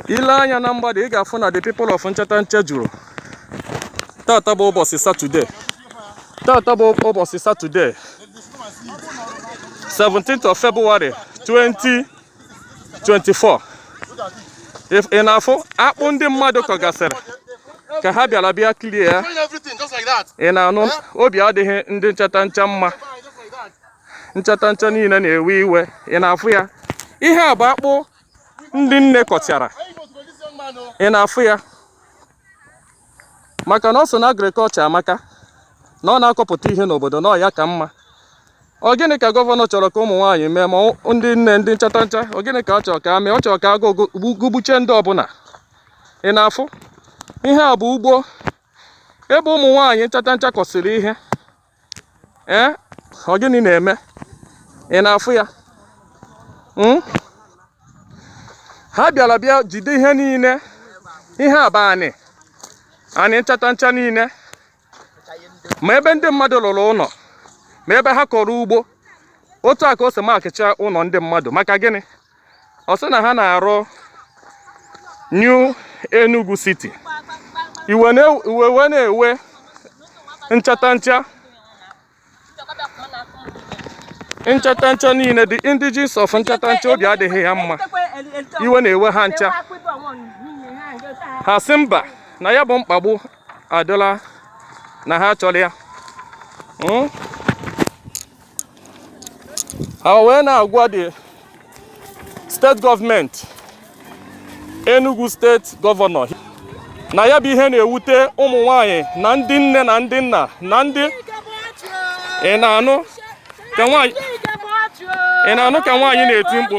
ị lee anya na mgbada ị ga-afụ na the people of Nchatancha juru tata bụ ụbọchị satọde tata bụ ụbọchị satọde 17th of February 2024 ị na-afụ akpụ ndị mmadụ kọgasịrị ka ha bịara bịa clear ya ị na-anụ obi adịghị ndị Nchatancha mma Nchatancha niile na-ewe iwe ị na-afụ ya ihe a bụ akpụ ndị nne kọchara ị na-afụ ya maka na o so na agriculture maka na ọ na-akọpụta ihe n'obodo na ọ ya ka mma ọ gịnị ka governor chọrọ ka ụmụ nwaanyị mee ma ndị nne ndị Nchatancha ọ gịnị ka ọ chọrọ ka ha mee ọ chọrọ ka agụụ gụgbuche ndị ọbụla ị na-afụ ihe a bụ ugbo ebe ụmụ nwaanyị Nchatancha kọsịrị ihe ee eh? ọ gịnị na-eme ị na-afụ ya hmm? ha bịara bịa jide ihe niile ihe bụ anị anị Nchatancha niile ma ebe ndị mmadụ rụrụ ụlọ ma ebe ha kọrọ ugbo otu a ka o si makịcha ụlọ ndị mmadụ maka gịnị ọ sị na ha na-arụ New Enugu City iwe wee na-ewe Nchatancha Nchatancha niile the indigenes of Nchatancha obi adịghị ha mma iwe na-ewe ha ncha ha sị mba na ya bụ mkpagbu adịla na ha achọrọ ya hmm? ha wee na-agwa the state government Enugu state governor na ya bụ ihe na-ewute ụmụ nwanyị na ndị nne na ndị nna na ndị ị na-anụ ka nwaanyị na-eti mkpu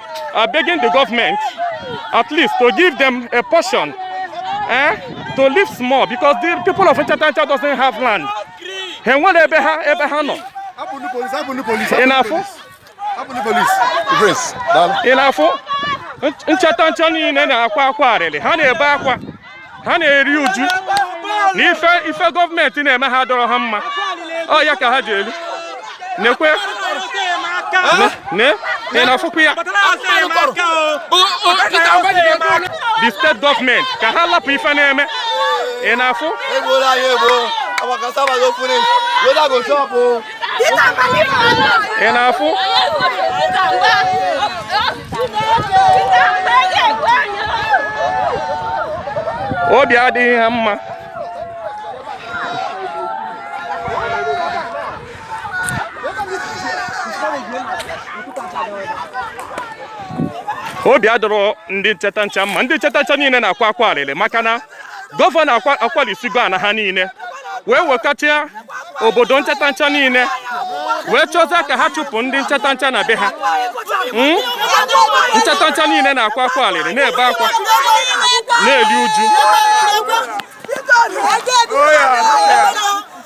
are begging the government at least to give them a portion eh, to live small because the people of Nchatancha doesn't have land. Ha enwere ebe ha ebe ha nọ. Ị na-afụ? Ị na-afụ? Nchatancha niile na-akwa akwa arịrị ha na-ebe akwa. ha na-eri uju na ife ife government na-eme ha adịrọ ha mma ọ ya ka ha ji elu nekwe ne ị na-afụkwa ya the state government ka ha lapụ ife na-eme ị na-afụ ị na-afụ obi adịghị ha mma obi adịrọ ndị nchatancha mma ndị nchatancha niile na-akwa akwa alịlị maka na gọvanọ akwalisigo ana ha niile wee wekọchaa obodo nchatancha niile wee chọzịa ka ha chụpụ ndị nchatancha na be ha hmm? nchatancha niile na-akwa akwa alịrị na-ebe akwa na-eri uju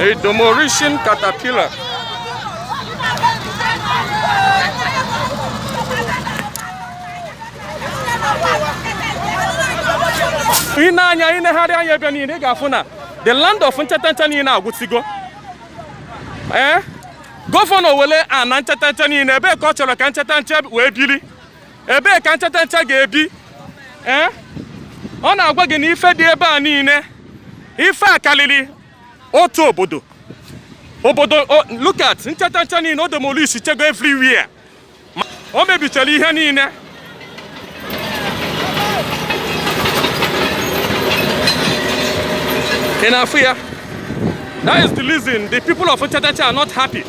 A demolition caterpillar. i nee anya i negharịa anya ebe niile ị ga-afụ na the land of nchatancha niile agwụsigo ee eh? gọvanọ wele ana nchatancha niile ebee ka ọ chọrọ ka nchatancha wee biri ebee ka nchatancha ga-ebi ee ọ na-agwa gị na ife dị ebe a niile ife a kalịlị otu obodo obodo look at nchatancha niile ọ demolishchago everywhere o mebichara ihe niile ị na-afụ ya that is the reason the people of Nchatancha are not happy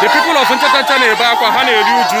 The people of Nchatancha na-ebe akwa ha na-eri uju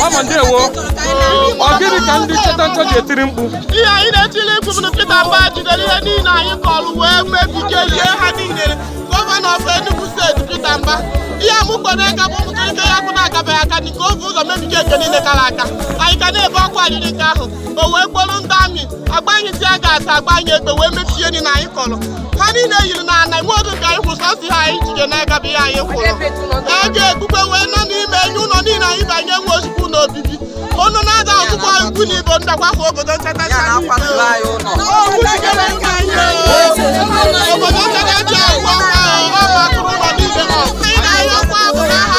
Mama ndewo ọ gịnị ka ndị nchatancha ji etiri mkpu ihe anyị na-etili mkpu bụ na Peter Mba jidere ihe niile anyị kọrọ wee mebiga ihe ha niile gọvanọ of Enugu steeti Peter Mba ihe amụkpọrọ ego bụ ụmụntorike ya kwụ na-akabeghị aka nke o vu ụzọ mebiga nke niile kara aka anyị ka na-ebe akwa arịrị nke ahụ o wee kpọrọ ndị army agbanye tear gas agbanye egbe wee mebie nri na anyị kọrọ ha niile yiri na ana nwe oge ka anyị kwụrụ sọsọ ihe anyị jide n'aka bụ ihe anyị kwụrụ e ji egbukwe wee nọ n'ime enye ụlọ niile anyị banye nwe ozugbo ụlọ obibi ọnụ na-ada ọtụkwa ikwu na ibo ndakwafu obodo nkata nka anyị bịara. Okwu jidere nka anyị o. obodo nkata ji agwụ ọkwa ahụ ọ bụ atụrụ ụlọ niile ha sị na anyị ọkwa bụ na ha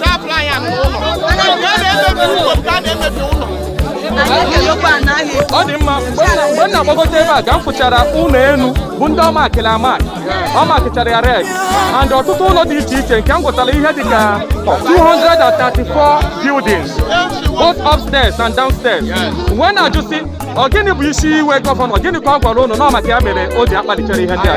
na-apụrụ anyị anụ ụlọ a na-emebi ụlọ ka a na-emebi ụlọ ọ dị mma mgbe m na- mgbe m na-agbagote ebe a ka m fụchara ụnọ enu bụ ndị ọ makịrị amakị ọ makịchara ya red and ọtụtụ ụnọ dị iche iche nke m gwụtara ihe dị ka 234 buildings both upstairs and downstairs wee na-ajụsị ọ gịnị bụ isi iwe gọvanọ gịnị ka ọ gwara ụnụ na maka ya mere o ji akpalitere ihe ndị a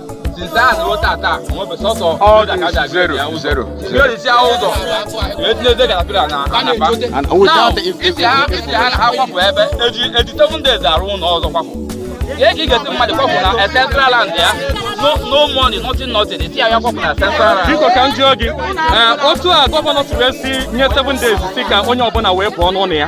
biko ka m jụọ gị otu a government si wee si nye 7 days sị ka onye ọbụla wee pụọ n'ụlọ ya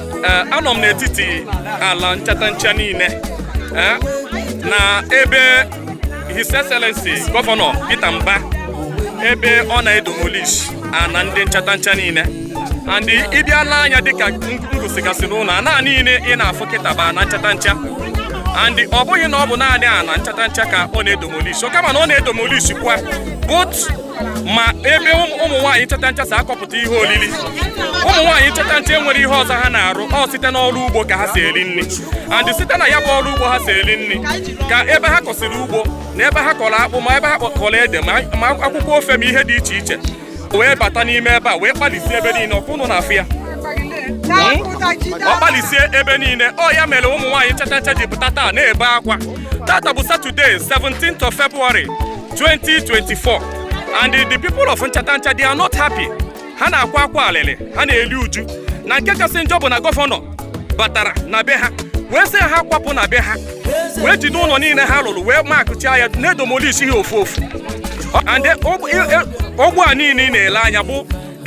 eh, anọ m n'etiti ala nchatancha niile eh, na ebe His Excellency Gọvanọ Peter Mba ebe ọ na-edomolish ana ndị nchatancha niile and ị bịa lee anya dịka m gosigasịrị unu ana niile ị na-afụ kịta bụ ana nchatancha and ọ bụghị na ọ bụ naanị ana nchatancha ka ọ na-edomolish kama na ọ na-edomolish kwa both ma ebe ụmụ nwaanyị nchatancha si akọpụta ihe olili ụmụ nwaanyị nchatancha enwerọ ihe ọzọ ha na-arụ ọ site n'ọrụ ugbo ka ha si eri nri and site na ya bụ ọrụ ugbo ha si eri nri ka ebe ha kọsịrị ugbo na ebe ha kọrọ akpụ ma ebe ha kọrọ ede ma akwụkwọ ofe ma ihe dị iche iche wee bata n'ime ebe a wee kpalisie ebe niile ọkwa unu na-afụ ya o kpalisie ebe niile ọ ya mere ụmụ nwaanyị nchatancha ji pụta taa na-ebe akwa tata bụ satọde 17th of February 2024 and the people of Nchatancha they are not happy ha na-akwa akwa alịlị ha na-eri uju na nke kasị njọ bụ na gọvanọ batara na be ha wee sị ha kwapụ na be ha wee jide ụnọ niile ha lụlụ wee makịchaa ya na-edomolish ha ofu ofu and ugbo a niile ị na-ele anya bụ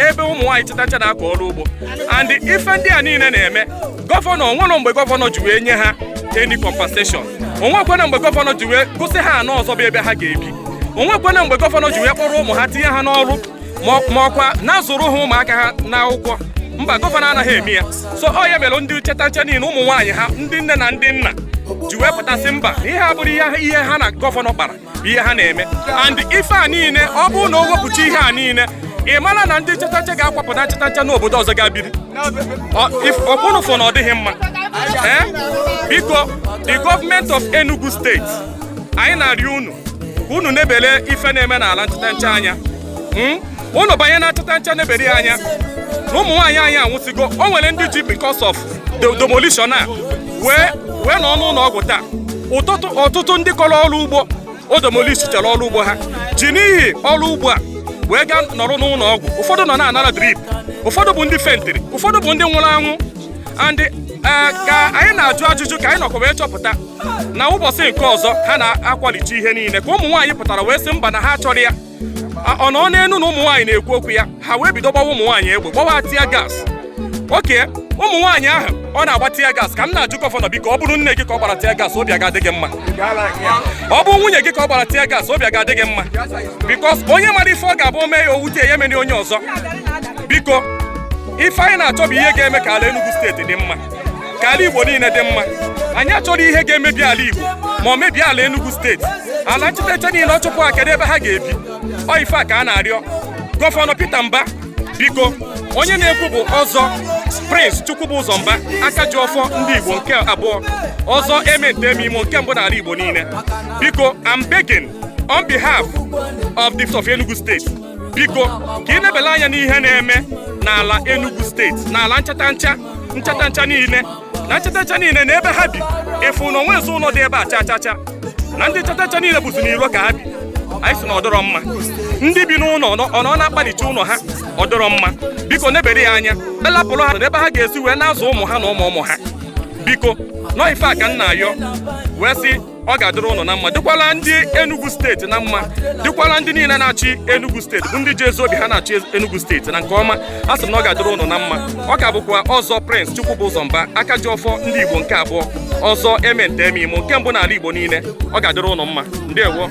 ebe ụmụ nwaanyị nchatancha na-akọ ọrụ ugbo and ife ndị a niile na-eme gọvanọ onwere mgbe gọvanọ ji wee nye ha any compensation onwekwana mgbe gọvanọ ji wee gosi ha ana ọzọ bụ ebe ha ga-ebi onwekwana mgbe gọvanọ ji wee kpọrọ ụmụ ha tinye ha n'ọrụ ma ọkwa na-azụrụ ha ụmụaka ha n'akwụkwọ mba gọvanọ anaghị eme ya so ọ ya mere ndị nchatancha niile ụmụ nwaanyị ha ndị nne na ndị nna ji wee pụta sị mba na ihe a abụrọ ihe ha na gọvanọ kpara bụ ihe ha na-eme and ife a niile ọ bụrụ na o wepụcha ihe a niile ị mara na ndị Nchatancha ga-akwapụ na Nchatancha n'obodo ọzọ gaa biri ọkwa unu fụ na ọ dịghị mma eh? biko the government of Enugu steeti anyị na-arịọ unu ka unu nebere ife na-eme n'ala Nchatancha anya hmm? unu banye na Nchatancha nebere ya anya na ụmụ nwaanyị anyị anwụsịgo o nwere ndị ji because of the demolition a wee wee nọ n'ụlọ ọgwụ taa ọtụtụ ndị kọrọ ọrụ ugbo o demolishichara ọrụ ugbo ha ji n'ihi ọrụ ugbo a wee gaa nọrọ n'ụlọ ọgwụ ụfọdụ nọ na-anara drip ụfọdụ bụ ndị fentịrị ụfọdụ bụ ndị nwụrụ anwụ and eh, ka anyị na-ajụ ajụjụ ka anyị nọkwa wee chọpụta na ụbọchị nke ọzọ ha na-akwalite ihe niile ka ụmụ nwaanyị pụtara wee sị mba na ha achọrọ ya ọ nọ n'elu na ụmụ nwaanyị na-ekwu okwu ya ha wee bido gbawa ụmụ nwaanyị egbe gbawa tear gas okay ụmụ nwaanyị ahụ ọ na-agba tear gas ka m na-ajụ gọvanọ biko ọ bụrụ nne gị ka ọ gbara tear gas obi ga-adị gị mma ọ bụ nwunye gị ka ọ gbara tear gas obi ga-adị gị mma because onye mara ife ọ ga-abụ o mee ya o wute ya emene onye ọzọ biko ife anyị na-achọ bụ ihe ga-eme ka ala Enugu steeti dị mma ka ala Igbo niile dị mma anyị achọrọ ihe ga-emebi ala Igbo ma o mebie ala Enugu steeti ala Nchatancha niile ọ chụpụ ha kedu ebe ha ga-ebi ọ ife a ka a na-arịọ gọvanọ Peter Mba biko onye na-ekwu bụ Ọzọ Prince Chukwubụzọ Mba aka ji ọfọ ndị Igbo nke abụọ Ọzọ eme nta eme imo nke mbụ n'ala Igbo niile biko I'm begging on behalf of the of Enugu steeti biko ka i nebele anya n'ihe na-eme n'ala Enugu steeti n'ala Nchatancha Nchatancha niile na Nchatancha niile na ebe ha bi ị fụ na o nwezi ụlọ dị ebe a cha cha cha na ndị Nchatancha niile bụzi n'iro ka ha bi anyị sị na ọ dịrọ mma ndị bi n'ụlọ ọ nọ na-akpalicha ụlọ ha ọ dịrọ mma biko nebere ya anya wee rapụrụ ha n'ebe ha ga-esi wee na-azụ ụmụ ha na ụmụ ụmụ ha biko na ọ ife a ka m na-ayọ wee sị ọ ga-adịrị ụnụ na mma dịkwala ndị Enugu steeti na mma dịkwala ndị niile na-achị Enugu steeti bụ ndị ji ezi obi ha na-achị Enugu steeti na nke ọma asị m na ọ ga-adịrị ụnụ na mma ọ ka bụkwa Ọzọ Prince Chukwubụzọ Mba aka ji ọfọ ndị Igbo nke abụọ Ọzọ eme nta eme imo nke mbụ n'ala Igbo niile ọ ga-adịrị ụnụ mma ndewo